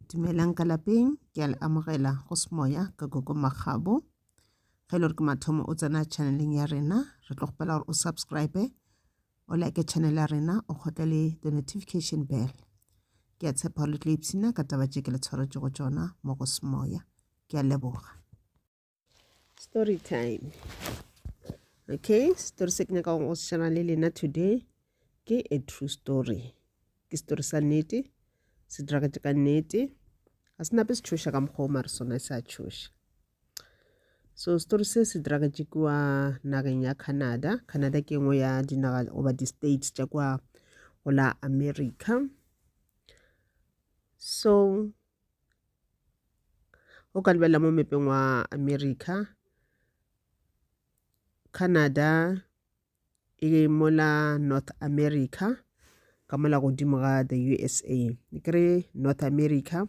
Dumelang ka lapeng, ke a le amogela go semoya ka Gogo Makgabo. Ge e le gore ke mathomo o tsena channeleng ya rena, re tlo kgopela gore o subscribe, o like channel ya rena, o kgotle le the notification bell. Ke a tshepa gore le tlo ipshina ka taba tše ke le tshwaretšego tšona mo go semoya. Ke a leboga. story time okay story se ke nyaka go šana le lena today ke a true story ke story sa nnete se diragatše ka nnete ga se nape se tšhoša ka mokgwa o mare sona se a tšhoša so story se se diragatše kua nageng ya canada canada ke engwe ya dinaga goba di-states tša kua go la america so o ka lebelela mo mepeng wa america canada e mola north america ka mola godimo ga the usa e kry north america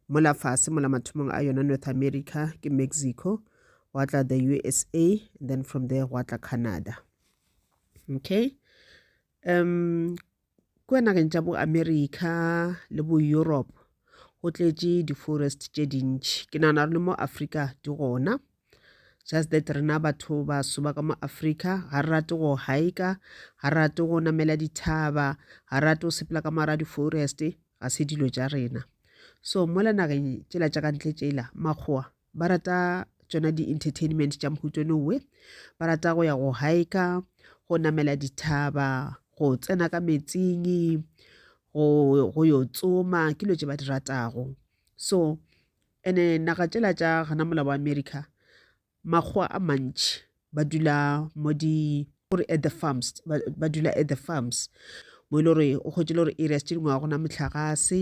mola fase mola mathomong a yona north america ke mexico wa tla the usa then from there wa tla canada okay um Kua nageng tša bo America le bo Europe go tletše di-forest tše dintši ke nagana re le mo Africa di gona just that rena batho ba soba ka mo Africa ga re rate go hika ga re rate go namela dithaba ga re rate go sepela ka mara di-forest ga se dilo tša rena so mola nageng tšela tša ka ntle tšela makgowa ba rata tšona di-entertainment tša mohuto nowe ba rata go ya go hika go namela dithaba go tsena ka metsing go yo tsoma ke dilo tše ba di ratago so ene naga tšela tša gana mola wa america makgowa a mantši ba dula mo di gore at the farms ba dula at the farms mo e le gore o kgwetše le gore areas tše dingwe ga gona motlhagase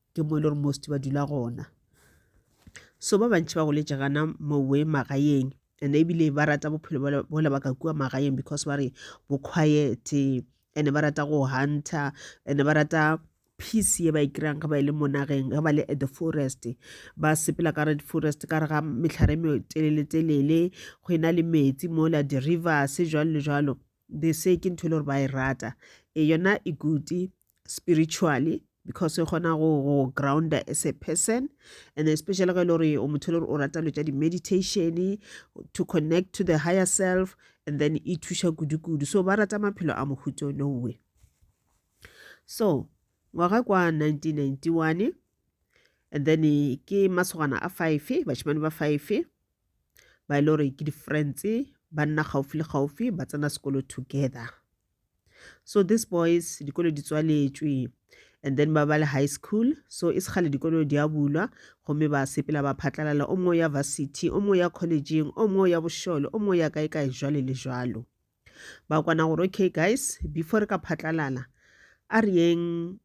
ke mo e le gore most ba dula gona so ba bantši ba goletše gana mowe magaeng and ebile ba rata bophelo bola ba ka kua magaeng because ba re bo quiet and ba rata go hunter and ba rata peace ye ba e kry-ang ge ba e le mo nageng ge ba le at the forest ba sepela ka red forest ka re ga metlhare e metelele-telele go e na le metsi mola di-rivers jalo le jalo they say ke ntho e le gore ba e rata e yona e good spiritually because e kgona go go grounder as a person and especially ge e le gore o motho e le gore o rata lo tša di-meditation to connect to the higher self and then e thuša kudu-kudu so ba rata maphelo a mohuto no way so ngwaga kwa 1991 and then ke masogana a five bashimane ba five ba e le gore ke di-friends ba nna gaufi le gaufi ba tsena sekolo together so these boys dikolo di tswaletšwe and then ba ba le high school so e sekgale dikolo di a bulwa gomme ba sepela ba phatlalala o mongwe ya varsity o mongwe ya collegeng o mongwe ya bošole o mongwe ya kae kae jwale le jwalo ba kwana gore okay guys before re ka phatlalala a re yeng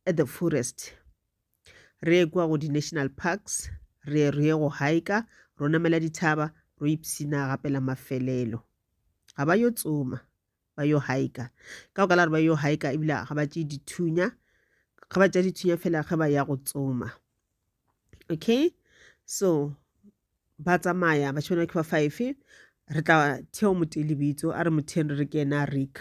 at the forest re ekwa go di-national parks re re go haika ro namela dithaba ro ipsina gape la mafelelo ga ba yo tsoma ba yo haika ka go ka la re ba yo haika ebile ga ba tše dithunya ga ba tša dithunya fela ge ba ya go tsoma okay so ba tsamaya ba tshwanela ke ba five re tla theo motee lebitso a re motheng re re ke ena rick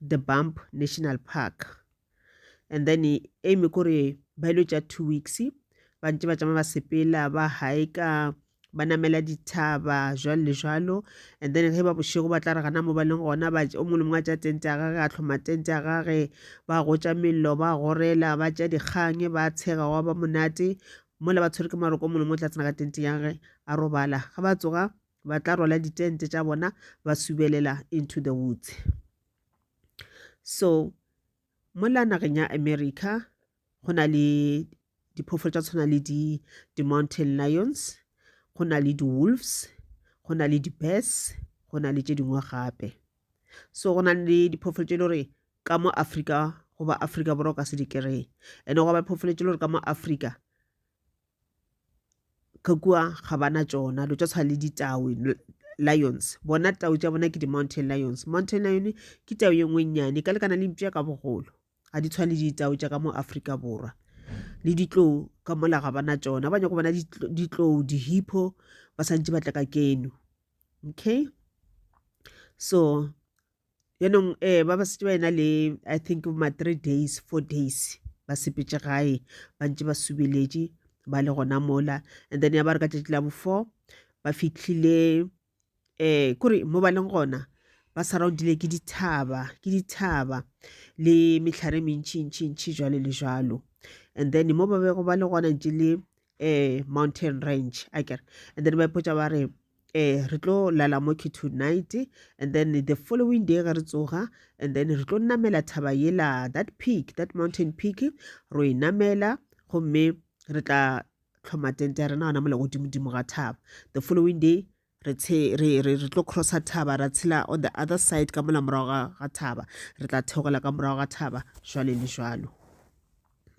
the bump national park and then aim kore ba ile tša two weeks ba ntse ba tšama ba sepela ba haeka ba namela dithaba jwalo le jwalo and then ge ba bošego ba tla re gana mo ba leng gona ba o mongwe le mongwe a tša tente ya gage a tlhoma tente ya gage ba gotša mello ba gorela ba tša dikgang ba tshega wa ba monate mola ba tshwere ke maroko mongwe le mongwe o tla tsena ka tente ya gage a robala ga ba tsoga ba tla rwala ditente tša bona ba subelela into the woods so mola nageng ya america go na le diphoofolo tša tshwana le di-mountain lions go na le di-wolves go na le di-bes go na le tše dingwe gape so go na le diphoofolo tše le gore ka mo afrika goba afrika borwa ka se di kry-e and-e goba phoofolo tše le gore ka mo afrika ka kua ga bana tšona lo tša tshwana le ditau lions bona tau tša bona ke di-mountain lions mountain lion ke tau ye nngwe nnyane ka lekana le mpša ka bogolo ga di tshwane le ditau tša ka mo aforika borwa le ditlou ka mola ga bana tšona ba nyako bona ditlou dihipho ba santse ba tla ka keno okay so yaanong um ba ba setse ba ena le i think ma three days four days ba sepetse gae ba ntse ba subeletše ba le gona mola and then ya ba re ka tšatši la before ba fitlhile um kore mo ba leng gona ba surroundile ke dithaba ke dithaba le metlhare e mentšhintšhintšhi jalo le jalo and then mo ba bego ba le gona ntse le um mountain range a kere and then ba ipotsa ba re Eh, re tlo lala mo ke tonight and then the following day ge re tsoga and then re tlo namela thaba yela that peak that mountain peak ro e namela gomme re tla tlhoma tente ya rena gona mole godimodimo ga thaba the following day re tlo crossa thaba ra tshela on the other side ka mola morago ga thaba re tla theogela ka morago ga thaba jwale le jwalo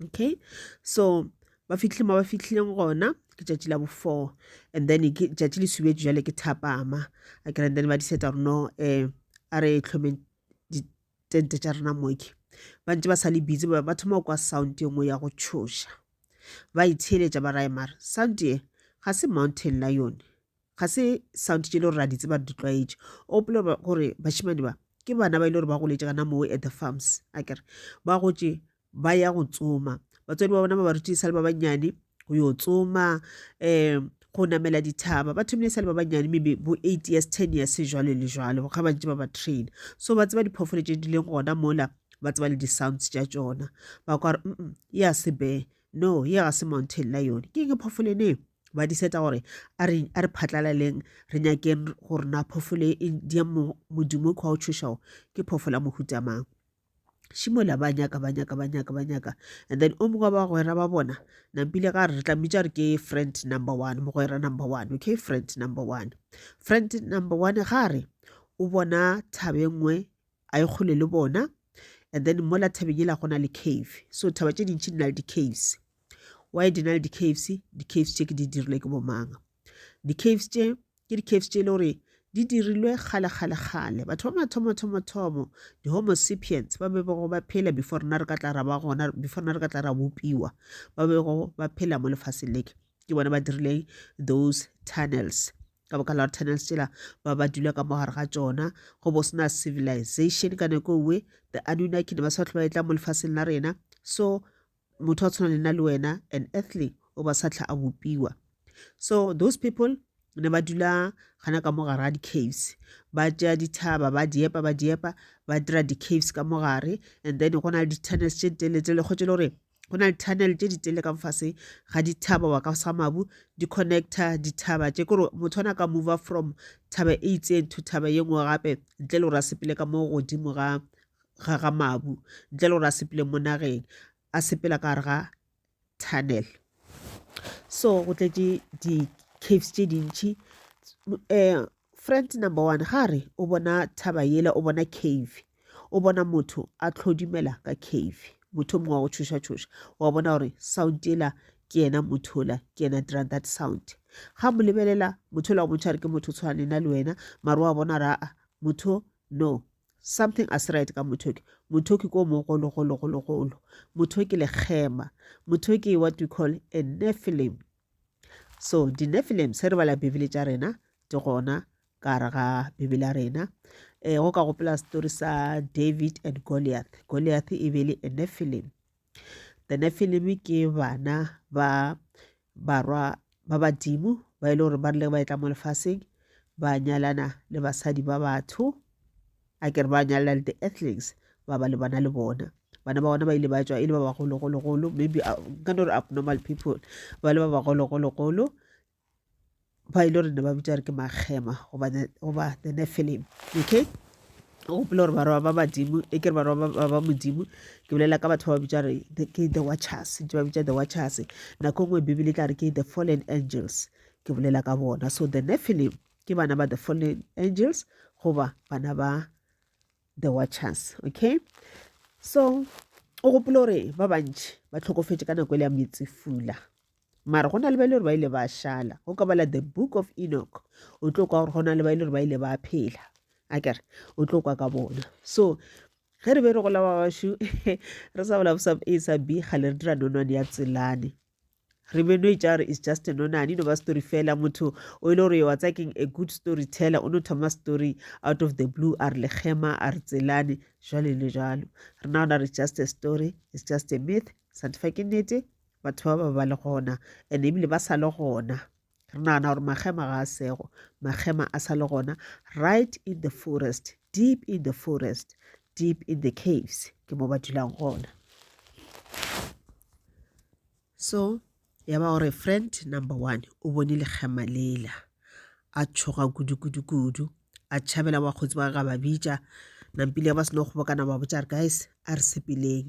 okay so ba fitlhile mo ba fitlhileng gona ke tšatši la bo-four and then ke tšatši le subetso jale ke thapama a kere then ba diseta gore no um a re tlhomeng ditente tša rena moke ba ntse ba sa le busy ba thoma go kwa sound e nngwe ya go tšhoša ba itsheeletša ba raye mare sound e ga se mountain la yone ga se sound tše e le gore ra di tseba re di tlwaetše o gopola gore bashimane ba ke bana ba e le gore ba goletše gana moo at the farms a kere ba gotše ba ya go tsoma batswadi ba bona ba ba rutile sa le ba bannyane go yo tsoma um go namela dithaba ba thomile sa le ba bannyane maybe bo eight years ten years jalo le jalo ga ba ntse ba ba train so ba tseba diphoofolo tse di leng gona mola ba tseba le di-sounds tša tsona ba kwa re mm ya sebe no ye ga se mountain la yone ke ke phoofolo ene ba di seta gore a re a re phatlalaleng re nyakeng gore na phoofolo e di ya modimo kwa o tshošago ke phoofolo ya mohutamang šimola ba nyaka ba nyaka ba nyaka ba nyaka and then o mongwe wa bagwera ba bona nampile ga re re tlamitša re ke friend number one mogwera number one okay friend number one friend number one ga re o bona thabe nngwe a e kgole le bona and then mola thabeng ela go na le cave so thaba tše dintšhi di na le di-caves why di na le di-caves di-caves tše ke di dirilwe ke bomanga Di-caves tše ke di-caves tše e le gore di dirilwe kgale kgale kgale batho ba mathomo thomo thomo di-homo sapiens ba be bego ba phela before rena re ka tla ra ba gona before rena re ka tla ra bopiwa ba bego ba phela mo lefaseng leke ke bona ba dirileng those tunnels ka boka la gore tunnels tsela ba ba dula ka mogare ga tsona go bo sena civilization ka nako nngwe the anunnaki ne ba sa tlhoba e tla mo lefaseng la rena so motho a tshwana le nna le wena an earthly o ba sa tlha a bopiwa so those people ne ba dula gana ka mo gare ga di-caves ba tšea dithaba ba diepa ba diepa ba dira di-caves ka mo gare and then go na le di-tunnels tše ditele tse le kgotse le gore go na le tunnel tše ditele ka mfase ga dithaba wa ka sa mabu di-connecta dithaba tše kore motho ona ka mova from thaba e itseng to thaba ye nngwe gape ntle le gore a sepele ka mo godimo ga ga ga mabu ntle le gore a sepele mo nageng a sepela ka gare ga tunnel so go tletše di-caves tše dintšhi um friend number one ga re o bona thaba yela o bona cave o bona motho a tlhodimela ka cave motho mongwe wa go tšhoša-tšhoša wa bona gore sound yela ke yena motho ola ke yena dirang that sound ga mo lebelela motho ola wa motho a re ke motho tshwana lena le wena mare wa bona raa motho No, something a se right ka Mothoki. Mothoki ko mogolo, golo, golo, golo. Mothoki lekgema. Mothoki what we call a Nephilim. So, di Nephilim, se re bala Bibele tša rena, di gona ka re ga Bibele ya rena. Eh, go ka gopela story sa David and Goliath. Goliath e be le a Nephilim. The Nephilim ke bana ba barwa ba badimo ba e le gore ba rile ba etla mo lefaseng ba nyalana le basadi ba batho a kere ba nyalela le di-earthlings ba ba lebana le bona bana ba bona ba ile ba tswa e le ba bagologologolo maybe uh, nka no re abnormal people ba le ba bagologologolo ba ile gore ne ba bitsa re ke magema goba the, goba the nephilim okay o gopele gore barwa ba badimo e ke re barwa ba- ba ba modimo ke bolela ka batho ba ba bitsa re the- ke the watchers ntse ba bitsa the watchers nako e nngwe bibele e tla re ke the fallen angels ke bolela ka bona so the nephilim ke bana ba the fallen angels goba bana ba the watchers okay so o gopole gore ba bantši ba tlhokofetše ka nako e le ya metsefula Mara go na le ba ile gore ba ile ba šala. Go ka bala the book of Enoch. O tlo kwa gore go na le ba ile gore ba ile ba phela. A kere, o tlo kwa ka bona. So, ge re be re gola ba bašu re sa bola sa a sa b ga le re dira nonwane ya tselane re be no itša gore is just nonane e no ba story fela motho o ile e gore wa tsakeng a good story teller o no thoma story out of the blue a re lekgema a re tselane jwale le jalo re na ona re just a story is just a myth santefa ke nnete batho ba ba ba le gona and ebile ba sa le gona re nagana gore magema ga a sego magema a sa le gona right in the forest deep in the forest deep in the caves ke mo ba dulang gona so ya ba gore friend number one o bone lekgema lela a tshoga kudu-kudu-kudu a tšhabela bakgotsi ba ga ba bitša nampile ba seno kgobokana ba botša re guys a re sepeleng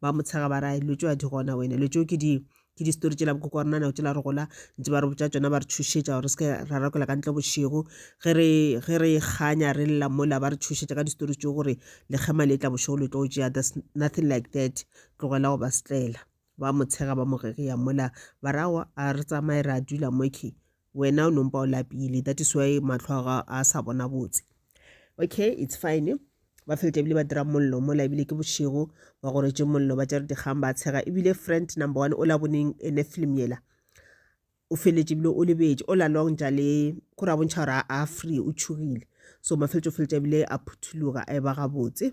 ba mo tshega ba ra dilo tšeo a di gona wena dilo tšeo ke di ke di-story tšela bokoko wa rona nako tšela re gola ntse ba re botša tšona ba re thušetša gore re seke ra rakwela ka ntle bošego ge re ge re kganya re lla mola ba re thušetša ka di-story tšeo gore lekgema le tla bošego le tlo tšea there's nothing like that tlogela go ba setlela ba mo tshega ba mo gegeya mola ba rawa a re tsamaye ra dula moke wena o nompa o lapile that is why matlho a a sa bona botse okay it's fine ba felete ebile ba dira mollo mola ebile ke bošego ba gore tše mollo ba tšere dikgang ba tshega ebile friend number one o la boneng ene film yela o feletse ebile o lebetse o lalong jale ko ra bontšha gore a free o tšhogile so mafeletse o feletse ebile a phuthuloga a e ba gabotse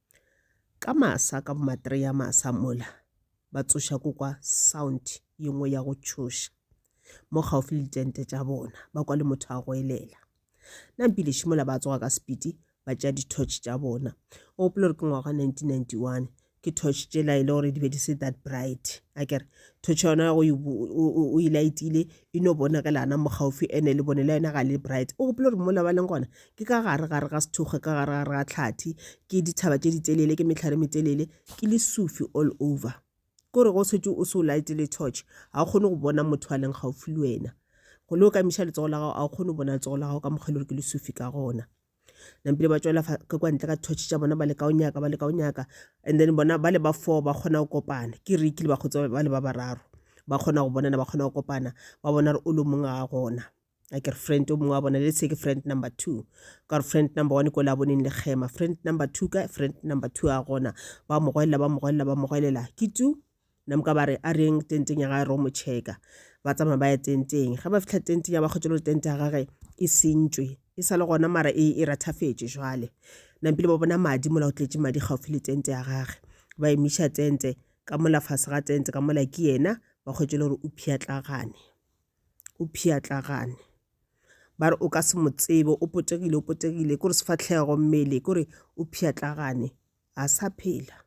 Ka masa ka bomatri ya masa mola ba tsoša ko kwa sound ye nngwe ya go tšhoša mo gaufi le ditente tša bona ba kwa le motho a goelela nampilešo mola ba tsoga ka sepiti ba tšea di-torch tša bona o gopola gore ke ngwaga 1991 ke torch tšela e le gore di be di se that bright a kere torch yona o e laetile e no bona ka lana mo gaufi ene le bone la yena ga le bright o gopola gore mola ba leng gona ke ka gare gare ga sethoge ka gare gare ga tlhathi ke dithaba tše ditelele ke metlhare metelele ke le sufi all over ke gore go setse o se o laete le torch ga o kgone go bona motho a leng gaufi le wena go le o ka miša letsogo la gago a o kgone go bona letsogo la gago ka mokgele gore ke le sufi ka gona nampile ba tšwela ka kwa ntle ka thotšhe tša bona ba leka o nyaka ba leka o nyaka and then bona ba le ba four ba kgona go kopana ke re kile ba kgotsa ba le ba bararo ba kgona go bonana ba kgona go kopana ba bona re o le mongwe ga gona a ke re friend o mongwe wa bona le se ke friend number two ka gore friend number one ko le a boneng le kgema friend number two ka friend number two a gona ba mogwelela ba mogwelela ba mogwelela ke tu namka ba re a reng tenteng ya gage ro mo checka ba tsamaya ba ya tenteng ge ba fitlha tenteng ya ba kgotse le tente ya gage e sentswe e sa le gona mara e e rathafetše jwale nampile ba bona madi mola o tletse madi gaufi le tente ya gage ba emiša tente ka mola fase ga tente ka mola ke yena ba kgwetse le gore o phiatlagane o phiatlagane ba re o ka se mo tsebe o potegile o potegile kore sefatlhego mmele kore o phiatlagane a sa phela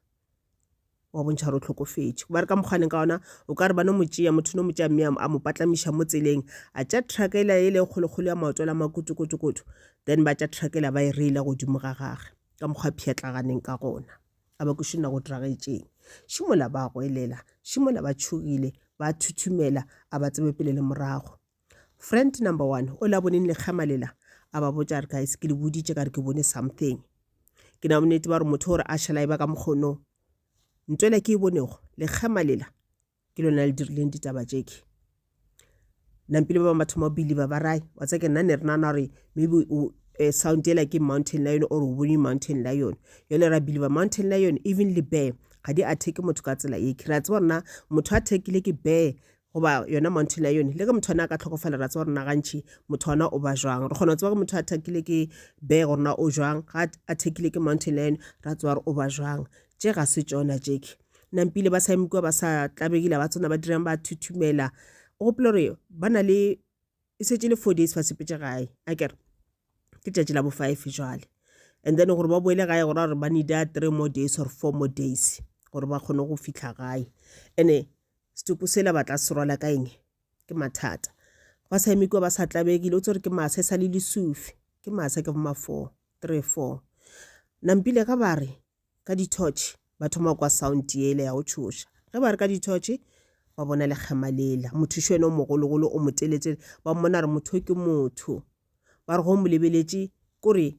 wa bontšha gore o tlhokofetše ba re ka mokgwaneng ka ona o ka re ba no mo tšea motho no mo tšea mme a mo patlamiša mo tseleng a tša trucka ele ele e kgolokgolo ya maoto la makotokotokoto then ba tša trucka ela ba e reila godimo ga gage ka mokgwa pšhatlaganeng ka gona a ba kuše nna go diragetšeng šimola ba goelela šimola ba tšhogile ba thuthumela a ba tsebe pele le morago Friend number one o la boneng lekgema lela a ba botša re guys ke le boditše ka re ke bone something ke na bonnete ba gore motho gore a šhela e ba ka mokgono nto ela ke e bonego lekgema lela ke lona le dirileng ditaba tšeke nampile ba bangwe ba thoma believe ba rai wa tsa ke nna ne re nana gore maybe eh, sound ela ke mountain lion or o bone mountain lion yone ra believe mountain lion even le bear ga di attack motho ka tsela eke ra tseba rona motho a thekile ke bear goba yona Mount Lion. Le ge motho ana a ka tlhokofala, ra tseba gore na gantši motho ana o ba jwang. Re kgona go tseba gore motho a thakile ke bee gore na o jwang, ga a thekile ke Mount Lion ra tseba gore o ba jwang. Tše ga se tšona tšeke. Nampile ba sa eme kua ba sa tlabegile ba tsona ba dirang ba thuthumela. O gopela gore ba na le e setse le four days ba sepetse gae a kere ke tšatši la bo five jwale and then gore ba boele gae gore gore ba needa three more days or four more days gore ba kgone go fitlha gae ene Setopo sela ba tla se rwala ka eng? Ke mathata. Ba sa eme kua ba sa tlabegile. O tsere ke masa e sa le lesufi. Ke masa ke boma four, three four. Nampile ga ba re ka dithotšhe ba thoma kwa sound yele ya go tšhoša. Ge ba re ka dithotšhe ba bona lekgema lela. Mothuši wena o mogologolo o moteletele. Ba mmona re motho ke motho. Ba re go molebeletše kore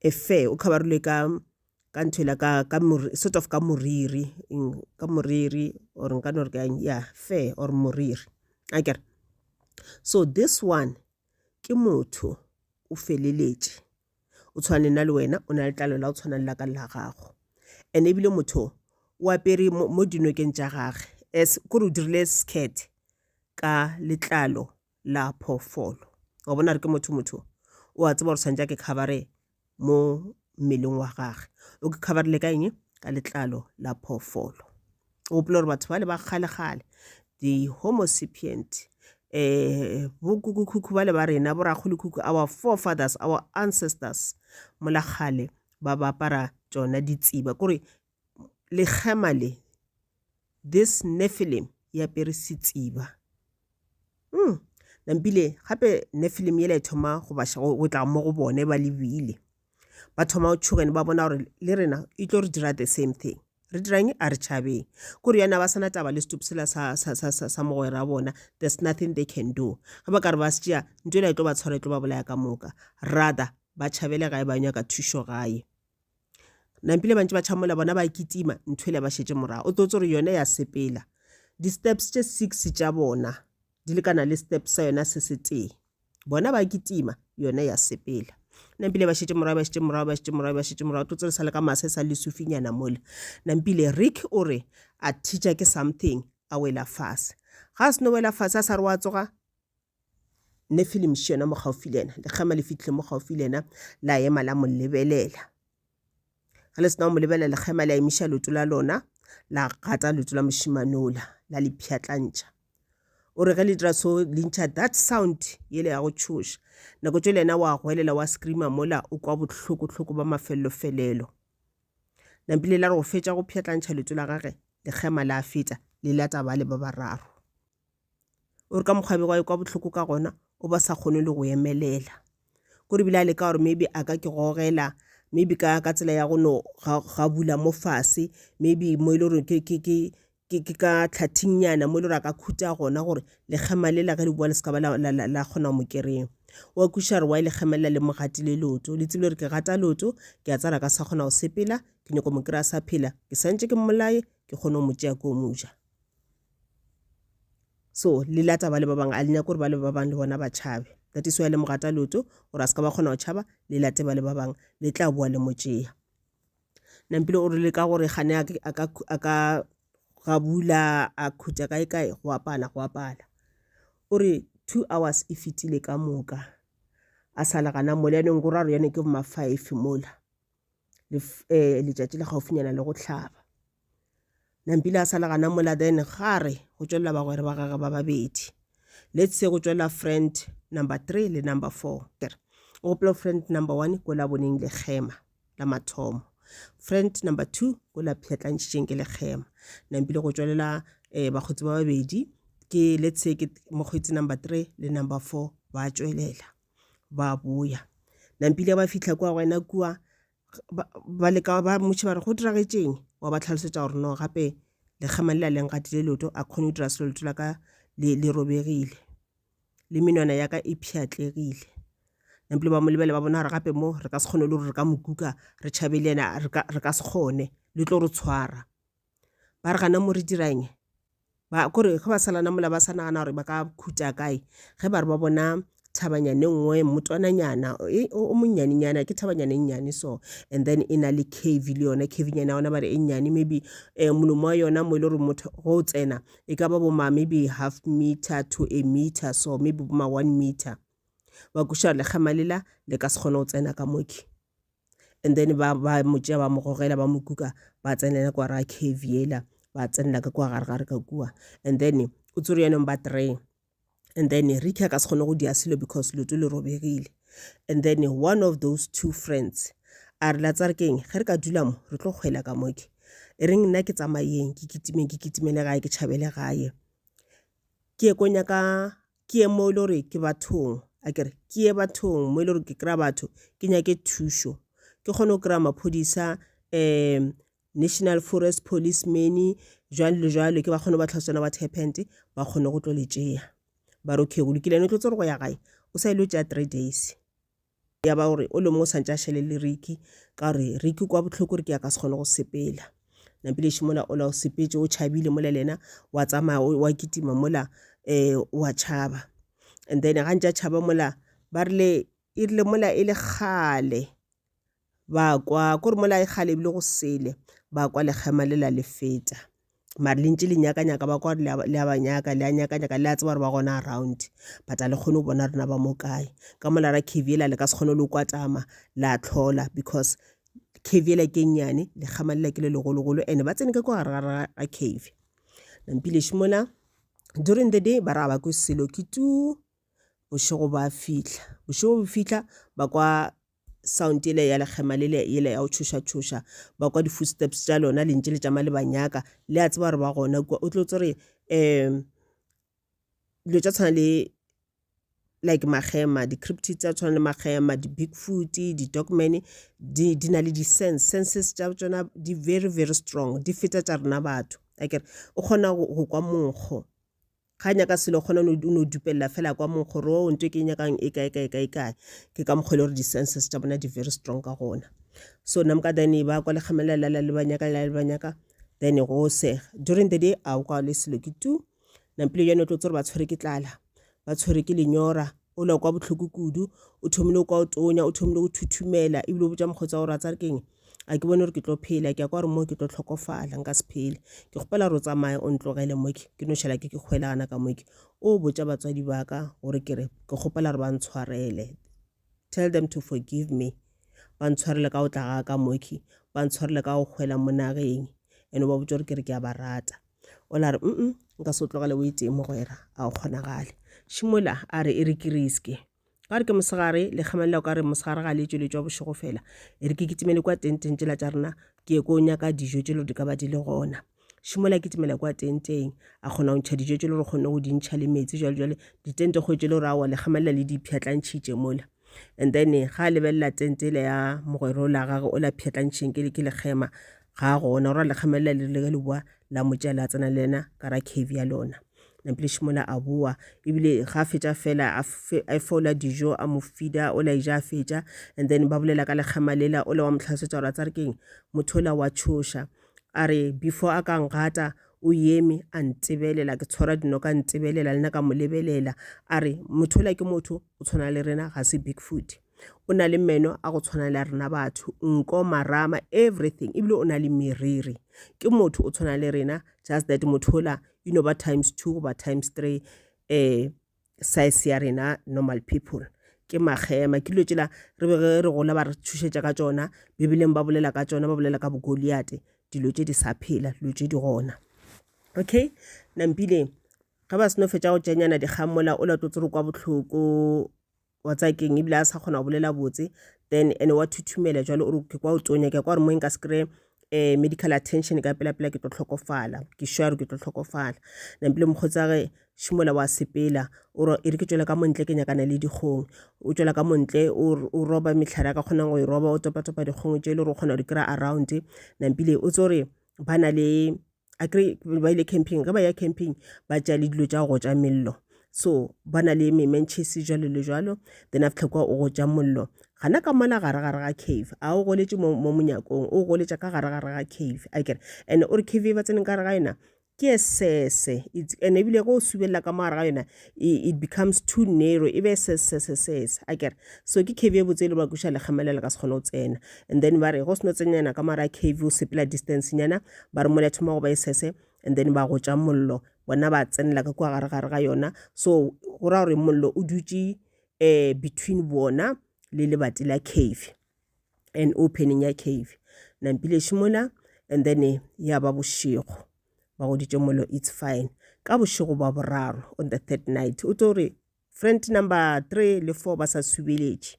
Efe, o khabarolwe ka, ka ntho ela ka, ka mor, sort of ka moriri, eng, ka moriri, or nka no re ka'ng, yeah, fe, or moriri. A kere? So this one, ke motho, o feleletše, o tshwana le nna le wena, o na le letlalo la go tshwana le la ka le la gago. And ebile motho o, o apere mo, mo dinokeng tša gage, as, kore o dirile skirt ka letlalo la phoofolo wa bona re ke motho motho o a tseba gore tshwanetse ke khabare mo mmeleng wa gage o ke khabarile ka eng ka letlalo la phoofolo o gopole gore batho ba le ba kgale-kgale di-homo sapient um eh, bokukukhukhu ba le ba rena borakgolokhukhu our forefathers our ancestors mola kgale ba ba apara tsona ditseba kore lekgema le this nephilim e apere setsiba mm. nampile gape nephilim yela e thoma go baša go tla mo go bone ba lebile ba thoma go tšhogene ba bona gore le rena e tlo re dira the same thing re dirang a re tšhabeng ko re yana ba sana taba le setup sela sa, sa, sa, sa, sa mogwera bona there's nothing they can do ge ba ka re ba se tšea ntho ela e tlo ba tshwara e tlo ba bolaya ka moka rather ba tšhabele gae ba nyaka thušo gae nampile ba ntse ba tšhamola bona ba kitima nthwele ba šetše morago o tlo tse gore yone ya sepela di-steps tše six tša bona di lekana le step sa yona se se tee bona ba kitima yone ya sepela nampile ba šetše morago ba šetše morago ba šetše morago ba šetše morago tlo tse re sa le ka mase sa lesufinyana mole nampile rick o re a teacher ke something a wela fase ga a seno wela fase a sa re wa tsoga Nefilim še yona mo gaufi le yena. Lekgema le fitlhile mo gaufi le yena, la ema la mo lebelela. Ge le sena go mo lebelela, lekgema le a emiša leoto la lona, la gata leoto la mošimanola, la le pšhatlantšha. O re ge le dira so, le ntšha that sound yele ya go tšhoša. Nako tšo le yena wa goelela, wa screama mola, o kwa bohloko-hloko ba mafelelo-felelo. Nampile la re go fetša go pšhatlantšha leoto la gage, lekgema la feta, le lata bale ba bararo. o re ka mokgwa bego a kwa bohloko ka gona o ba sa kgone le go emelela kore bile a leka gore maybe a ka ke gogela maybe ka ka tsela ya go no ga bula mo fase maybe mo e le gore ke ke ke ke ke ka tlhathinyana mo e le gore a ka khutha gona gore lekgema lela ge le bua le se ka ba la kgona mo kry-a wa kwešiša gore wa e lekgemelela le mo gatile leoto le tsebile gore ke gata leoto ke a tsara ka sa kgona go sepela ke nyako mo kry-a sa phela ke santse ke mmolaye ke kgone go mo tšea ko moja so le lata ba le ba bangwe a le nyako gore ba le ba bangwe le bona ba tšhabe that is why le mogata loto gore a se ka ba kgona go tšhaba le late ba le ba bangwe le tla boa le mo tšea nampile o rile ka gore gane a ka gabula a khutša kae kae go apala go apala o re two hours e fetile ka moka a sala gana mole yanong go ra re yone ke boma five mola um letšatši le gaufinyana le go hlaba nampile a sala gana mola then ga re go tšwelela bagwera ba gage ba babedi let's say go tšwelela friend number three le number four kere o gopola friend number one ko la boneng le kgema la mathomo friend number two ko la pšhatlantšhitšeng ke le kgema nampile go tšwelela um eh, bakgotsi ba babedi ke let's say ke mokgweetsi number three le number four ba tšwelela ba boya nampile ba fitlha kwa go ena kua ba leka ba motšhe ba re go diragetšeng wa ba tlhalosetsa gore no gape lekgema le la leng gatile leoto a kgone go dira selo leto la ka le robegile le menwana ya ka e pšhatlegile nampile ba mo lebele ba bona gore gape mo re ka se kgone le gore re ka mo kuka re tšhabe le ena re ka se kgone le tlo re tshwara ba re gana mo re dira eng? Ba, kore ge ba salana mola ba sa nagana gore ba ka khutša kae, ge ba re ba bona thabanyana e nngwe, mmotwananyana o monnyanenyana, ke thabanyana e nnyane so. And then e na le cave le yona, cavenyana ya yona ba re e nnyane, maybe um molomo wa yona mo e le gore motho ge o tsena, e ka ba bo ma maybe half meter to a meter so, maybe bo ma one meter. Ba kweša gore lekgema lela le ka se kgone go tsena ka mo ke. and then ba ba mo tšea ba mo gogela ba mo kuka ba tsenela kwa ra cave yela ba tsenela ka kwa gare gare ka kua and then o tsere yone ba three and then ricky a ka se kgone go dia selo because leto le robegile and then one of those two friends a re la tsare keng ge re ka dula mo re tlo kgwela ka moke e reng nna ke tsamayeng ke kitimeng ke kitimele gae ke tšhabele gae ke ye ko nyaka ke ye mo e le gore ke bathong a kere ke ye bathong mo e le gore ke kry-a batho ke nyake thušo ke kgone go kry-a maphodisa um national forest police many jwalo le jwalo ke ba kgone ba tlhaswana what happened ba kgone go tlo le tšeya ba re okay go lokile ne tlo tse gore go ya gae o sa ile o tšeya three days Ya ba o re, o le mo o santse a šele le Ricky, ka gore Ricky kwa bohloko re ke a ka se kgone go sepela. Nampilešo mola ola o sepetše, o tšhabile mola le yena wa tsamaya o- wa kitima mola um wa tšhaba. And then ga ntše a tšhaba mola ba rile, e rile mola e le kgale Ba kwa, ko re mola e kgale ebile go sele, ba kwa lekgema le la le feta. Mare le ntše le nyakanyaka, ba kwa gore le a ba nyaka, le a nyakanyaka, le a tseba gore ba gona around. But a le kgone go bona rena ba mo kae. Ka mola ra cave yela le ka se kgone le go kwatama, la tlhola because cave yela ke e nnyane, lekgema lela ke le legologolo and ba tsene ka kwa gare ga cave. Nampileši mola, during the day ba re ga ba kwe selo, ke tuu, bošego ba fihla. Bošego bo fihla, ba kwa sound yela ya lekgema lele yela ya go tšhoša-tšhoša ba kwa di-footsteps tša lona lentše le tšama le ba nyaka le a tseba gore ba gona kua o tlo tsore um dilo tša tshwana le like magema di-crypti tsa tshwana le magema di-big foot di-dogman di, di na le di-sense senses tša tsona di very very strong di feta tša rena batho akere o kgona go kwa monkgo ga nyaka selo kgona o no dupelela fela kwa monkgo ro o nto ke nyakang e kae kae kae kae ke ka mokgwa e le gore di-senses tša bona di-very strong ka gona so namka then e ba kwa lekgamelelala le banyaka la le banyaka then e go sega during the day a o kwa le selo ke tu nampile yone o tlo tsere ba tshwere ke tlala ba tshwere ke lenyora o le kwa bohloko kudu o thomile kwa o tonya o thomile go thuthumela ebile o botsa mokgotsi wa gore a tsa re keng a ke bone gore ke tlo phela ke ya kwa gore mo ke tlo tlhokofala nka se phele ke kgopela gore o tsamaye o ntlogele moke ke no šhala ke ke kgwelana ka moke o botsa batswadi ba ka gore ke re ke kgopela gore ba ntshwarele tell them to forgive me ba ntshwarele ka o tla ga ka moke ba ntshwarele ka go kgwela mo nageng and ba botsa gore ke re ke a ba rata o la re mm nka se o tlogele o itee mogwera a o kgonagale šimola a re e re ke riske ka gore ke mosegare le kgamelela o ka re mosegare ga le tsweletšwa bošego fela e re ke kitimele kwa tenteng tsela tša rena ke ye ko nyaka dijo tše le di ka ba di le gona šimola kitimela kwa tenteng a kgona go ntšha dijo tše le gore kgonne go di ntšha le metsi jalo jale ditente kgwetse le gore awa le kgamelela le dipšhatlantšhitše mola and then ga a lebelela tente ele ya mogwera o la gage o la pšhatlantšheng ke ke lekgema ga a gona gore lekgema le le rile ka leboa la mo tšea la tsena le ena ka ra cave ya lona nampilešo mola a boa ebile ga a fetša fela a fola dijo a mo fida o la eja a fetša and then ba bolela ka lekgema lela o le wa mo tlhalosetsa gore a tsare keng motho o la wa tšhoša a re before a ka ngata o yeme a ntebelela ke tshwara dino ka ntebelela le nna ka mo lebelela a re motho ola ke motho o tshwana le rena ga se bigfoot o na le meno a go tshwana le a rena batho nko marama everything ebile o na le meriri ke motho o tshwana le rena just that motho ola e no ba times two goba times three um size ya rena normal people ke magema ke dilo tšela re be re gola ba re thušetša ka tšona bibeleng ba bolela ka tšona ba bolela ka bogoliate dilo tše di sa phela dilo tše di gona okay nampile ge ba seno fetša go tšenyana dikgang mola o lato tsere kwa bohloko wa tsa keng ebile a sa kgona go bolela botse then ene wa thuthumela jalo o re ke kwa o tonya ke kwa re mo nka se kry eh, medical attention ka pela pela ke tlo tlhokofala ke sure ke tlo tlhokofala nampile mokgotsi a ge šimola wa sepela e re ke tswela ka montle ke nyakana le dikgong o tswela ka montle o roba metlhare a ka kgonang go e roba o topatopa dikgong tse e le gore o kgona go di kry-a around nampile o tse gore ba na le a kry ba ile camping ge ba ya camping ba tšea le dilo tša go tša mello so ba na le mementšhese jalo le jalo then a fitlha kwa o go tša mollo gana ka mola gare gare ga cave a o goletše mo monyakong o goletša ka gare gare ga cave a kere and-e o re cave e ba tseneng ka gare ga yona ke sese and ebile go o subelela ka mo gare ga yona it becomes too narrow e be sesesesese a kere so ke cave e botse e le ba kuša lekgama le le ka se kgone go tsena and then ba re go seno tsenyana ka mara cave o sepela distance nyana ba re mole thoma go ba e sese and then ba go tša mollo bona ba tsenela ka kua gare gare ga yona so go ra gore mollo o dutše um between bona le lebati la cave and opening ya cave nampile šimola and then eh, ya ba bošego ba goditše molo it's fine ka bošego ba boraro on the third night o tlo re friend number three le four ba sa subeletše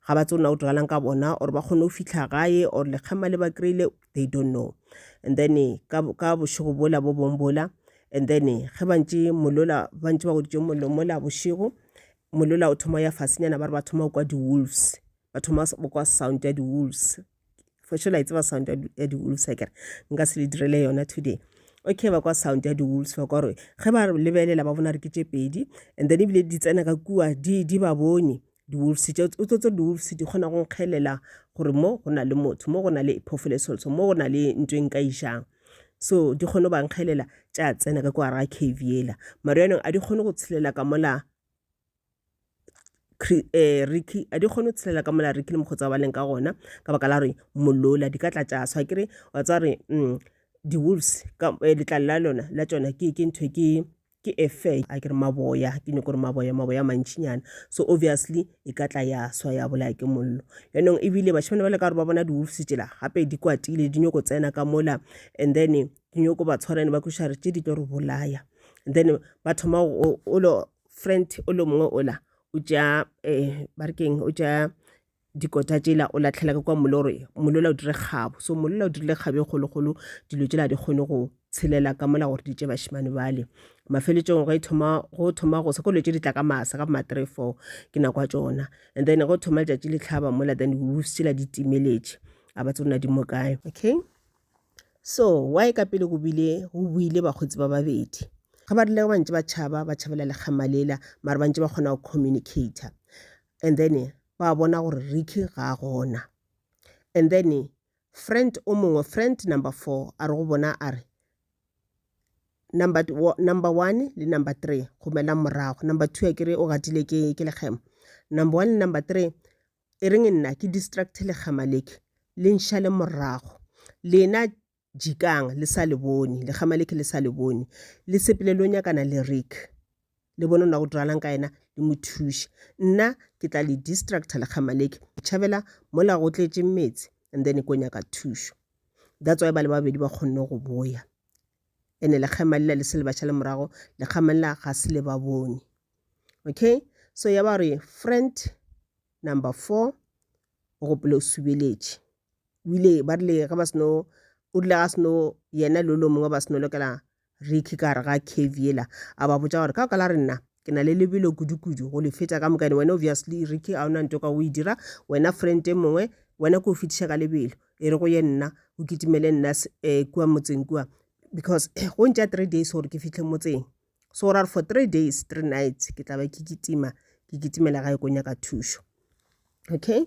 ga ba tsona o tlogalang ka bona or ba kgone go fitlha gae or lekgema le ba kry-ile they don't know and then eh, ka bošego bola bo bong bola and then eh, ge bantše molola bantše ba goditše molomola bošego molola o thoma ya fasenyana ba re ba thoma go kwa di-wolves ba thoma ba kwa sound ya di-wolves for sure la e tseba sound ya di-wolves akere nka se le direle yona today okay ba kwa sound ya di-wolves ba kwa gore ge ba lebelela ba bona re ke tše pedi and then ebile di tsena ka kua di, di ba bone di-wolves tše o tsotse di-wolves di kgona go nkgelela gore mo go na le motho mo go na le phofolo e solso mo go na le ntho e nka ijang so di kgone ba nkgelela tša tsena ka kwa ra cave yela maro yanong a di kgone go tshelela ka mola Ricky, a di kgone go tshela ka mola Ricky le mokgotse wa ba leng ka gona ka baka la gore molola di ka tla tša swa. Akere wa tseba gore di-wolves letlalo la lona la tšona ke ntho e ke ke a fair akere maboya ke nyaka gore maboya maboya a mantšinyana so obviously e ka tla ya swa ya bolaya ke mollo. Jaanong ebile bašemane bale ka gore ba bona di-wolves tšela gape di kwatile di nyako tsena ka mola and then di nyako ba tshwara and-e ba kwešiša gore tše di tlo re bolaya and then ba thoma go . friend o le mongwe ola o tša um ba re keng o tša dikota tšela o latlhela ka kwa mole gore mole ola o dire kgabo so mole ola o dirile kgabo e kgolokgolo dilo tšela di kgone go tshelela ka mola gore di tše bašemane bale mafeletšong go e thoma go thoma go sa ko dilo tše di tla ka masa ka boma three four ke nako ya tšona and then go thoma letšatši le tlhaba mola then wolves tšela di timeletše a ba tsona di mo kae okay So, why ka pele go bile go buile bakgotsi ba babedi? Ga ba rile ba ntse ba tšhaba, ba tšhabela lekgama lela, mara ba ntse ba kgona go communicator. And then ba bona gore Ricky ga a gona. And then friend o mongwe, friend number four, a re go bona a re, number, number one le number three, gomelang morago. Number two a kere o gatile ke, ke lekgema. Number one le number three, e reng nna ke distracte lekgama leke le nšale morago lena jikang le sa le bone lekgama leke le sa le bone le sepele lo nyakana le rick le bone na go diralang ka yena le mo thuše nna ke tla le distracta lekgama leke tšhabela mola go tletse metsi and then ko nyaka thušo that's why ba le babedi ba kgonne go boya ene lekgema lela le se le ba šale morago lekgema lela ga se le ba bone okay so ya ba re friend number four o gopole o subeletše o ile ba rile ge ba seno o rile ga seno yena le lo mongwe ba seno lokela ricky ka gare ga cave yela a ba botsa gore ka ka la re nna ke na le lebelo kudu-kudu go le fetša ka mokane wena obviously ricky a ona nto ka o e dira wena friend e mongwe wena ko o fetiša ka lebelo e re go ye nna o kitimele nna um kua motseng kua because go ntša three days gore ke fitlhe motseng so ra re for three days three nights ke tla ba ke kitima ke kitimela gae ko nyaka thušo okay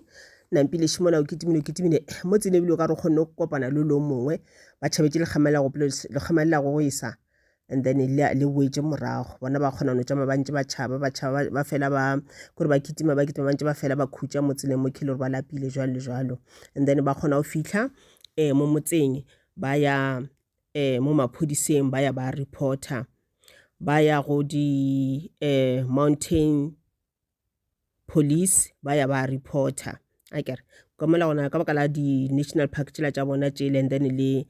nampile šimola o kitimile o kitimile mo tselebile o ka re kgonne go kopana le lo mongwe ba tšhabetse lekgamela go lekgamela go go isa and then le le boetse morago bona ba kgona no tšama ba ntse ba tšhaba ba tšhaba ba fela ba kore ba kitima ba kitima ba ntse ba fela ba khutša mo tseleng mo khile gore ba lapile jwalo le jwalo and then ba kgona go fitlha um mo motseng ba ya um mo maphodiseng ba ya ba reporter ba ya go di um mountain police ba ya ba reporter a kere ka mola gona ka baka la di-national park tšela tša bona tšele and then le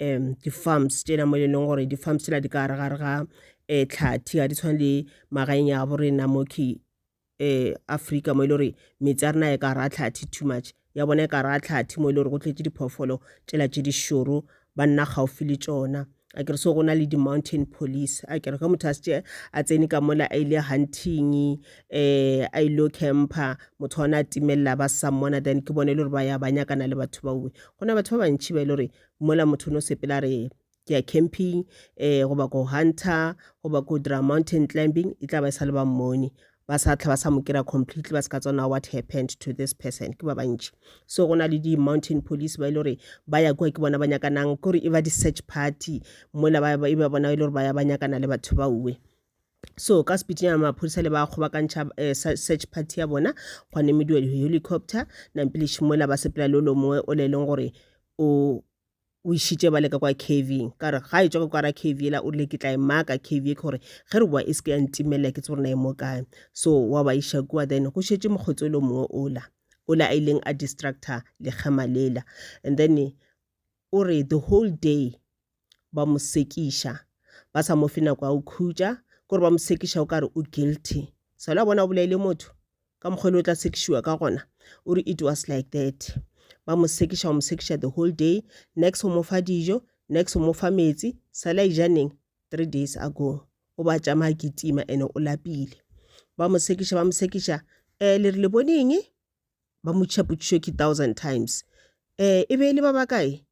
um di-farms tšela mo e leng gore di-farms tšela di ka gare gare ga um tlhathi ga di tshwane le magaeng ya bo rena mo ke um afrika mo e le gore metsi a rena e ka gare ga tlhathi too much ya bona e ka ra tlhathi mo e le gore go tletše diphoofolo tšela tše di šoro ba nna gaufi le tšona a kere so go na le di-mountain police a kere ge motho a setse a tsene ka mola a ile hunting um a ile camper motho ona a timelela ba sa mmona then ke bone e le gore ba ya ba nyakana le batho baue go na batho ba bantšhi ba e le gore mola motho o ne o sepela re ke ya camping eh goba ko hunter goba ko dira mountain climbing e tla ba e sa le ba mmone ba sa tla ba sa mo kira completely ba se ka tsona what happened to this person ke ba bantši so go na le di-mountain police ba e le gore ba ya kua ke bona ba nyakanang ke gore e ba di-search party mola e ba bona e le gore ba ya ba nyakana le batho ba uwe so ka sepitinyana maphodisa le ba kgobakantšha um eh, search party ya bona gwa nemediwa di-helicopter nampilešimola ba sepela le o lo mongwe o le e leng gore o o išitše ba leka kwa caving ka gore ga e tswa ka kwara cave ela o rile ke tla e maka cave e ke gore ge re boa e se ke ya ntimelela ke tse gore na e mo kae so wa ba iša kua then go šetse mokgotsi o le mongwe ola ola a ileng a distractor lekgema lela and then o re the whole day ba mo sekiša ba sa mo fe nako ya go khutša kore ba mo sekiša o kare o guilty selo a bona o bolaile motho ka mokgwa le o tla sekišiwa ka gona o re it was like that ba mo sekiša o mo sekiša the whole day next o mo fa dijo next o mo fa metsi sala ijaneng three days ago o ba tšamaya kitima ene o lapile ba mo sekiša ba mo sekiša um le re le boneng ba mo tšhapotšišo ke thousand times um e be e le ba bakae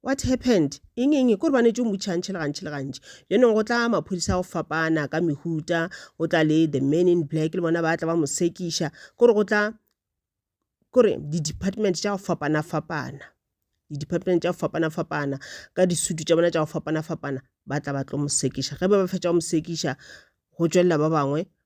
What happened? Eng eng? Kore ba netse o mutšha gantši le gantši le gantši. Bjanong go tla maphodisa go fapana ka mehuta, go tla le the man in black le bona ba tla ba mo sekiša. Kore go tla kore di-department tša go fapana fapana, di-department tša go fapana fapana ka disutu tša bona tša go fapana fapana ba tla ba tlo mo sekiša. Ge ba ba fetša go mo sekiša go tšwelela ba bangwe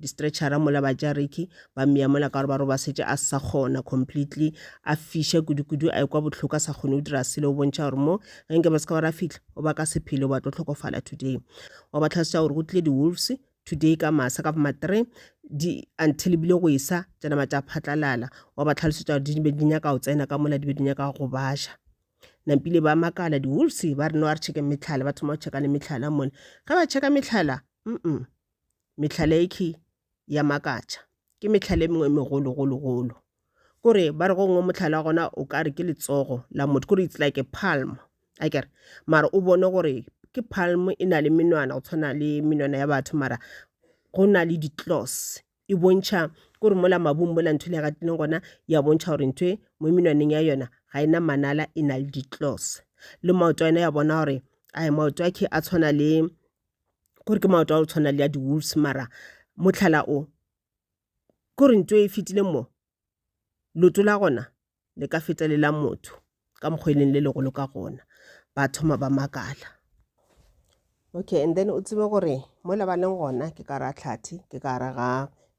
di-stretcher-a mola ba tša Ricky ba mmeya mola ka gore ba re ba setse a sa kgona completely a fiša kudu-kudu a ekwa bohloko a sa kgone go dira selo o bontšha gore mo ge nke ba se ka ba ra fitlha o ba ka sephelo ba tlo tlhokofala today wa ba tlhasetswa gore go tlile di-wolves today ka masa ka ma three di until bile go esa tša nama tša phatlalala wa ba tlhalosetsa gore di be di nyaka go tsena ka mola di be di nyaka go baša nampile ba makala di-wolves ba re no a re checke metlhala ba thoma go checka le metlhala mone ge ba checka metlhala mm mehlala yekhi ya makatša ke mehlala e mengwe e megolo golo golo kore ba re go ngwe mohlala wa gona o ka re ke letsogo la motho kore it's like a palm a kere mara o bone gore ke palm e na le menwana go tshwana le menwana ya batho mara go na le di-claws e bontšha kore mola mabung mola ntho le ya gatileng gona ya bontšha gore ntho e mo menwaneng ya yona ga e na manala e na le di-claws le maoto a yona ya bona gore a maoto a khe a tshwana le gore ke maoto a go tshwana le ya di-wolves mara motlhala o ke gore ntho e fetile mo loto la gona le ka feta le la motho ka mokgwa e leng le legolo ka gona ba thoma ba makala okay and then o tsebe gore mo le ba leng gona ke ka ra tlhathi ke ka ra ga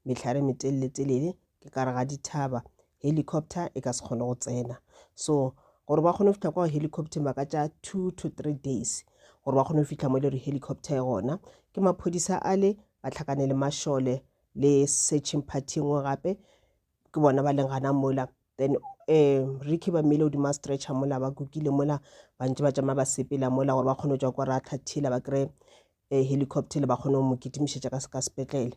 metlhare metelele-telele ke ka re ga dithaba helicopter e ka se kgone go tsena so gore ba kgone go fitlha kwa helicopter ba ka tša two to three days gore ba kgone go fitlha mo e le gore helicopter e gona ke maphodisa a le ba tlhakane le mašole le searching party e nngwe gape ke bona ba leng gana mola then um ricky ba mmele godimo a stretcher mola ba kukile mola ba ntse ba tšama ba sepela mola gore ba kgone go tswa kwa ra tlhathila ba kry-e eh, helicopter le ba kgone go mo kitimišetša ka sepetlele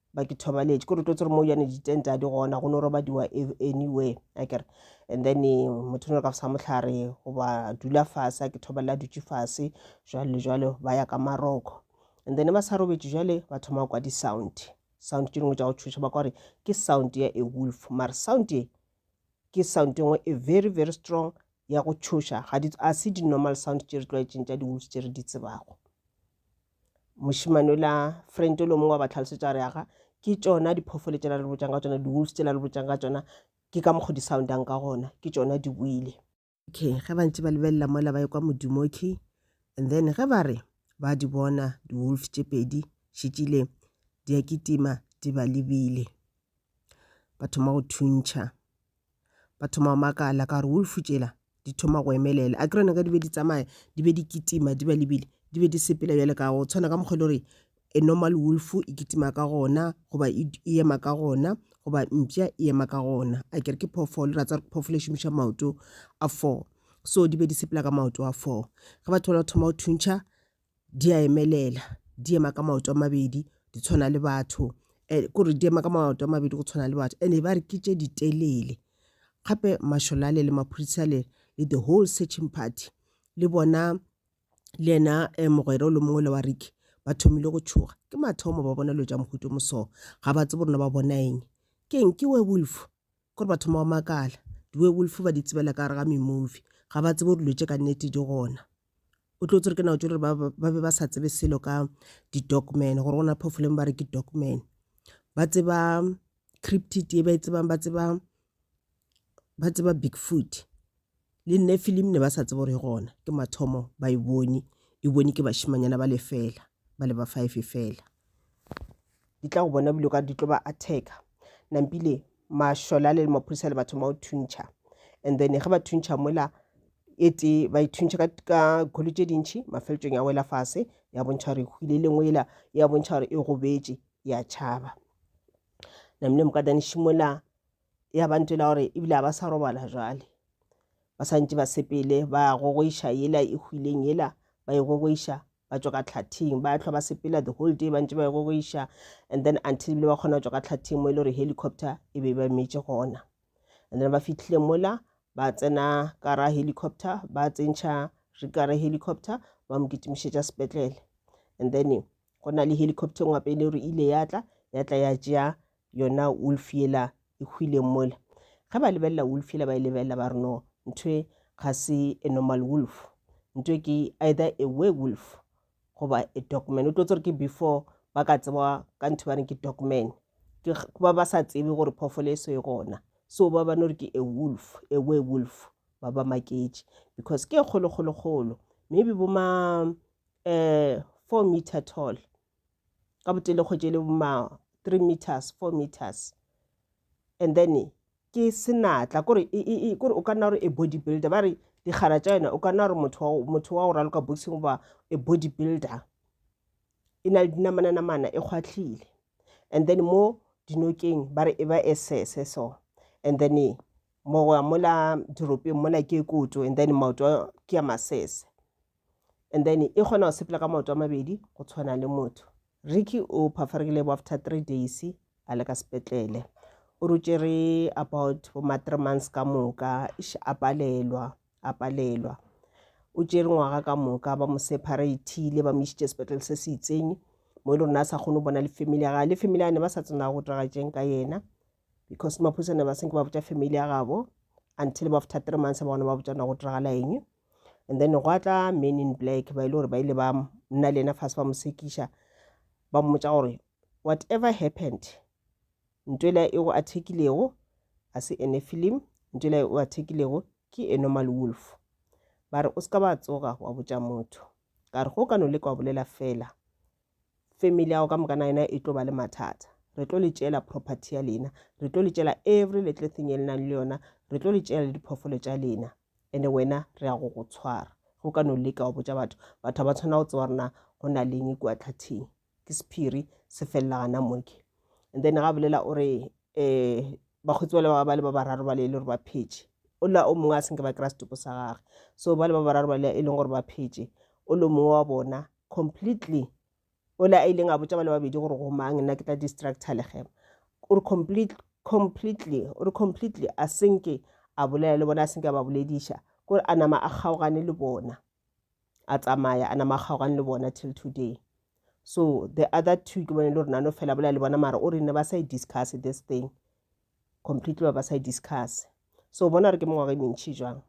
ba ke thobaletše ke rototse gore mo yane ditente a di gona go no robadiwa e-, anywhere a kere and then eh, motho no ka sa mohlare goba dula fase a ke thobalela dutše fase jwale le jwale ba ya ka maroko and then ba sa robetše jwale ba thoma kwa di-sound sound tše dingwe tša go thuša ba kwa gore ke sound ya a wolf mare sound e ke sound e nngwe e very very strong ya go tšhoša ga di a se di-normal sound tše re tlwaetseng tša di-wolves tše re di tsebago mošemane o la friend o le mongwe wa ba tlhalosetša gore aga ke tšona diphoofolo tšela le botšang ka tšona di-wolves tšela le botšang ka tšona ke ka mokgo di-soundang ka gona ke tšona di buile okay ge ba ntse ba lebelela mola ba ekwa modimo okay and then ge ba re ba di bona di-wolf tše pedi šetšile di a kitima di ba lebile ba thoma go thuntšha ba thoma go makala ka gore wolf tšela di thoma go emelela a kerone ka di be di tsamaya di be di kitima di ba lebile di be di sepela bjale ka go tshwana ka mokgwa e le gore a normal wolf e kitima ka gona goba e, e ema ka gona goba mpša e ema ka gona a kere ke phoofolo ra tsa gore phoofolo e šomiša maoto a four so di be di sepela ka maoto a four ge batho ba thoma go thuntšha di a emelela di ema ka maoto a mabedi di tshwana le batho eh, kore di ema ka maoto a mabedi go tshwana le batho and ba re ke tše ditelele gape masholale le maphodisa le le the whole searching party le bona le ena um mogwera o le mongwe le wa riki ba thomile go tšhoga ke mathomo ba bona lo ja mohuto moso ga ba tsebo rona ba bona eng ke eng ke werewolf Gore batho ma o makala. Di werewolf ba di tsebela ka gare ga me movie. Ga ba tsebe gore dilo tše ka nnete di gona. O tlo tsere ke nao tše gore ba ba be ba sa tsebe selo ka di dogman gore gona phoofolo eng ba re ke dogman. Ba tseba cryptid ye ba e tsebang ba tseba ba tseba big foot. Le Nefilim ne ba sa tsebe gore e gona, ke mathomo ba e bone, e bone ke bašimanyana ba le fela, ba le ba five fela. Di tla go bona bile ka di tlo ba attacka. Nampile mašole a le le maphodisa le batho mao thuntšha. And then ge ba thuntšha mola e tee ba e thuntšha ka, ka kholo tše dintšhi mafeletsong ya wela fase ya bontšha gore e hwile le ngwe ela ya bontšha gore e gobetše ya tšhaba. Namile mokadane šimola ya bante la gore ebile ba sa robala jwale ba santse ba sepele ba gogoiša yela e hwileng yela ba e gogoiša ba tswa ka tlhathing ba tlhwa ba sepela the whole day bantse ba e gogoiša and then until ebile ba kgona go tswa ka tlhathing mo e le gore helicopter e be ba metse gona and then ba fitlhile mola ba tsena ka ra helicopter ba tsentšha re ka ra helicopter ba mo kitimišetša sepetlele and then go na le helicopter ngwape e le gore ile ya tla ya tla ya tšea yona wolf yela e hwileng mola ge ba lebelela wolf yela ba e lebelela ba re no ntho ga se a normal wolf ntho ke either a werewolf goba a dogman o tlo tsere ke before ba ka tseba ka ntho ba reng ke dogman ke ba ba sa tsebe gore phoofolo e so e gona so ba ba no re ke a wolf a werewolf ba ba maketše because ke e kgolokgolokgolo maybe bo ma um four meter tall ka botelekgwetši e le ma three meters four meters and then ke senatla kore e, e, e, kore o ka nna gore e body builder ba re dikgara tša yona o ka nna gore motho wa go raloka boxing goba e body builder e na le dinamananamana e kgwatlhile and then mo dinokeng ba re e ba e sese so and then mogoya mola diropeng mola ke koto and then maoto ke ya masese and then e kgona go sepela ka maoto a mabedi go tshwana le motho ricky o phafaregile bo after three days a le ka sepetlele o rutšere about boma three months ka moka ish a palelwa a palelwa o tšere ngwaga ka moka ba mo separathile ba mo isitše sepetlele se se itseng mo e le rona a sa kgone go bona le family ya gage le family ya ne ba sa tsena go diragatseng ka yena because maphusane ba senke ba botša family ya gabo until ba after three months ba gona ba botšana go diragala eng and then gwa tla men in black ba ile gore ba ile ba nna le ena fase ba mo sekiša ba mmotsa gore whatever happened ntho ela e go athekilego a se ene film ntho ela e o athekilego ke e normal wolf ba re o se ka ba tsoga wa botša motho ka re go ka no le kwa bolela fela family ya go ka moka na yona e tlo ba le mathata re tlo le tšela property ya lena re tlo le tšela every little thing e lenang le yona re tlo le tšela le diphoofolo tša lena and wena re ya go go tshwara go ka no leka wa botša batho batho ga ba tshwana go tseba rena go na leng kua tlhathing ke sephiri se felela gana moke and then ga bolela o re um bakgotsi bale ba le ba bararo bale e le gore ba phetše o la o mongwe a senke ba kry-a setopo sa gage so ba le ba bararo bale e leng gore ba phetše o le mongwe wa bona completely ole a ileng a botša ba le babedi gore go mang nna ke tla distractor legema o re complete completely o re completely a senke a bolela le bona a senke a ba bolediša kore a nama a kgaogane le bona a tsamaya a nama a kgaogane le bona till today so the other two ke bone le gore nano fela bolela le bona mara o re ne ba sa e discuss this thing completely ba ba sa e discuss so bona re ke mengwaga e mentšhi jwang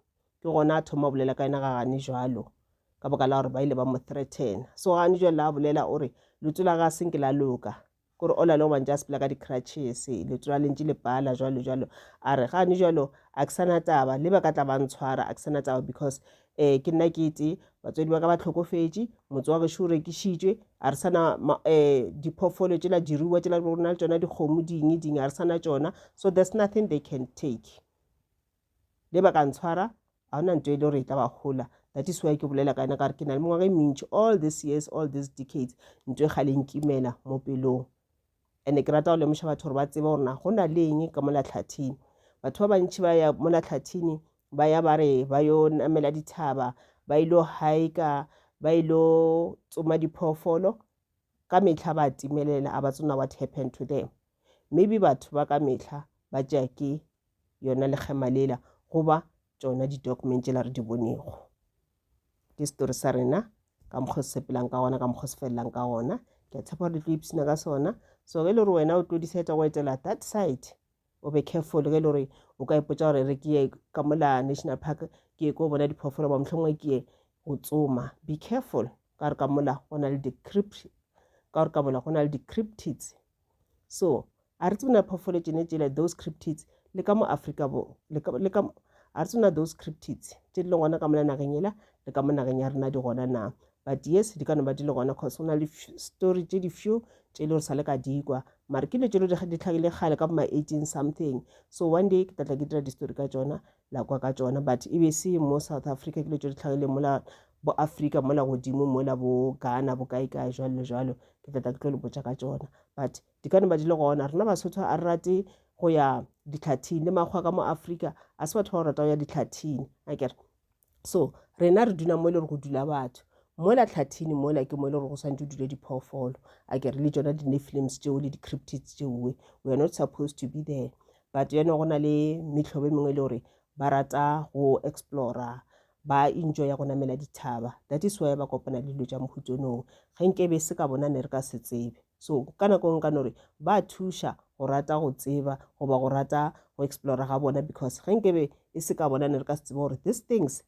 ke gona a thoma bolela ka ena ga gane jalo ka boka la gore ba ile ba mo threaten so gane jalo la bolela o re leto la ga se nke la loka kore o la le go bantse a sepela ka di-crutches leto la lentše le pala jalo jalo a re gane jalo a ke sana taba le ba ka tla ba ntshwara a ke sana taba because um ke nna ke tee batswadi ba ka ba tlhokofetše motse wa gešo o rekišitšwe a re sana um eh, diphoofolo tšela diruwa tšela go na le tsona dikgomo ding ding a re sana tsona so there's nothing they can take le ba ka ntshwara ga gona nto e le gore e tla ba gola that is why ke bolela ka yona ka gore ke na le mengwaga e mentši all these years all these decades nto e ga le nkimela mo pelong Ene ke rata go lemoša batho gore ba tsebe gore na go na le eng ka mola tlhathini. Batho ba bantši ba ya mola tlhathini ba ya ba re ba yo namela dithaba ba ile haika ba ile tsoma diphoofolo ka mehla ba timelela a ba tsona what happened to them maybe batho ba ka mehla ba tšea ke yona lekgema lela goba tšona di-document tšela re di bonego ke story sa rena ka mokgwa se sepelang ka gona ka mokgwa se felelang ka gona ke a tshepa gore di tlo ipshina ka sona so ge e le gore wena o tlo decide go etela that side o be careful ge e le gore o ka ipotsa gore re ke ye ka mola national park ke ye ko bona diphoofolo ba mohlongwe ke ye go tsoma be careful ka gore ka mola go na le di-crypt ka gore ka mola go na le di-cryptids So, a re tsebe na phoofolo tšene tšele, those cryptids, le ka mo Afrika bo, le ka, le ka, a re tsebe na those cryptids, tše di le gona ka mona nageng yela, le ka mo nageng ya rena di gona na. But yes, di ka no ba di le gona, cause go na le story tše di few tše le gore sa le ka dikwa. Mare ke dilo tše le di tlhagile kgale ka bo ma eighteen something. So one day ke tlatla ke dira di-story ka tšona, la kwa ka tšona but e be se mo south africa ke dilo tšo di tlhagile mola bo africa mola godimo mola bo ghana bo kae kae jalo le jalo ke tla tla ke tlo le botša ka tšona but di ka ne ba di le gona rena basotho a re rate go ya ditlhathing le makgwa ka mo africa a se batho ba go rata go ya ditlhathing a kere so rena re dula mo e le gore go dula batho mola tlhathini mola ke mo e le gore go swantse o dule diphoofolo a kere le tsona di-nefilims tšeo le di-criptids tšeoe we are not supposed to be there but you know go na le mehlobo e mengwe e le gore ba rata go explora ba enjoy ya go namela dithaba that is why ba kopana le dilo tša mohutonong ge nke be se ka bona ne re ka se tsebe so ka nako nka no re ba thuša go rata go tseba goba go rata go explora ga bona because ge nkebe e se ka bona ne re ka se tsebe gore these things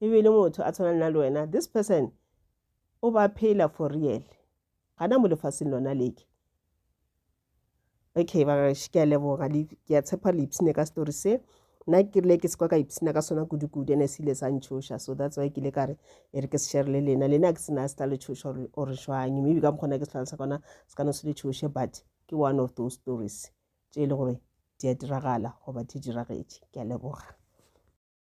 e be e le motho a tshwana le na le wena this person o ba phela for real gana mo lefaseng lona leke okay bagaešo ke a leboga ke a tshepa le ipshine ka story se nna ke rile ke sekwa ka ipshina ka sona kudu-kudu ene se ile sa ntshoša so that's why ke ile ka re e re ke se sherele lena lena ke sena se tla le tshoša or jwang maybe ka mokgona ke setlhalosa kona se ka no se le tshoše but ke one of those stories tše e le gore di a diragala goba di diragetše ke a leboga